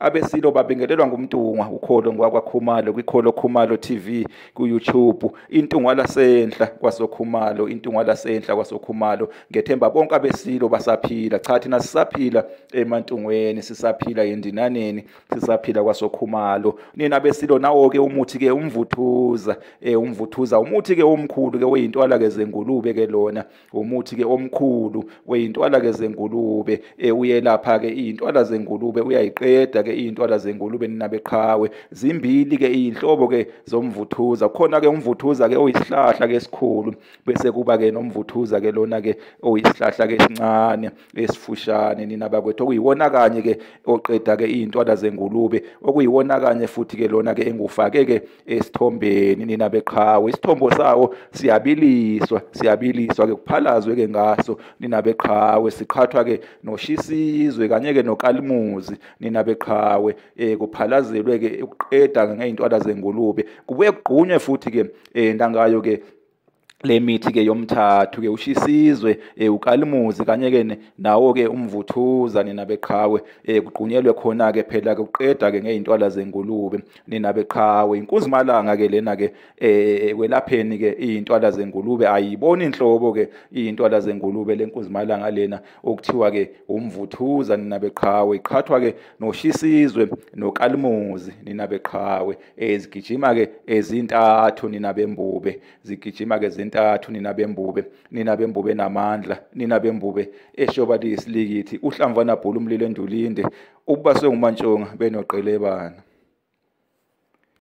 Abesilo babingelelwa nguMntungwa uKholo ngwakwaKhumalo kwiKholo Khumalo TV kuYouTube. INtungwa lasenhla kwasoKhumalo, iNtungwa lasenhla kwasoKhumalo. Ngethemba bonke abesilo basaphila. Cha thina sisaphila eMantungweni, sisaphila eNdinaneni, sisaphila kwasoKhumalo. Nina abesilo nawo ke umuthi ke umvuthuza, eh umvuthuza umuthi ke omkhulu ke oyintwala ke zengulube ke lona. umuthi ke omkhulu weyintwala ke zengulube e, uyelapha ke iyintwala zengulube uyayiqeda ke iyintwala zengulube ninabeqhawe zimbili ke iyinhlobo ke zomvuthuza khona ke umvuthuza ke oyisihlahla ke esikhulu bese kuba ke nomvuthuza ke lona ke oyisihlahla ke sincane esifushane nina bakwethu okuyiwona kanye ke oqeda ke iyintwala zengulube okuyiwona kanye futhi ke lona ke engufake ke esithombeni nina beqhawe isithombo sawo siyabiliswa siyabiliswa ke kuphalazwe ke ngaso nina beqhawe siqhathwa ke noshisizwe kanye ke nokalimuzi nina beqhawe eh kuphalazelwe ke ukuqeda ngeintwala zengulube kubuye kugqunywe futhi ke eh ndangayo ke le mithi ke yomthathu ke ushisizwe eh, ukalimuzi kanye ke nawo ke umvuthuza nina beqhawe eh, kugqunyelwe khona ke phela ke uqeda ke ngeintwala zengulube nina beqhawe inkuzimalanga ke lena ke eh, kwelapheni ke izintwala zengulube ayiboni inhlobo ke izintwala zengulube lenkuzimalanga lena okuthiwa ke umvuthuza nina beqhawe iqhathwa ke noshisizwe nokalimuzi nina beqhawe eh zigijima ke ezintathu nina bembube zigijima ke zintathu nina bembube nina bembube namandla nina bembube eshoba liyisilikithi uhlamvana bhulu umlilo endulinde ubaswe ngumantshonga benoqelebana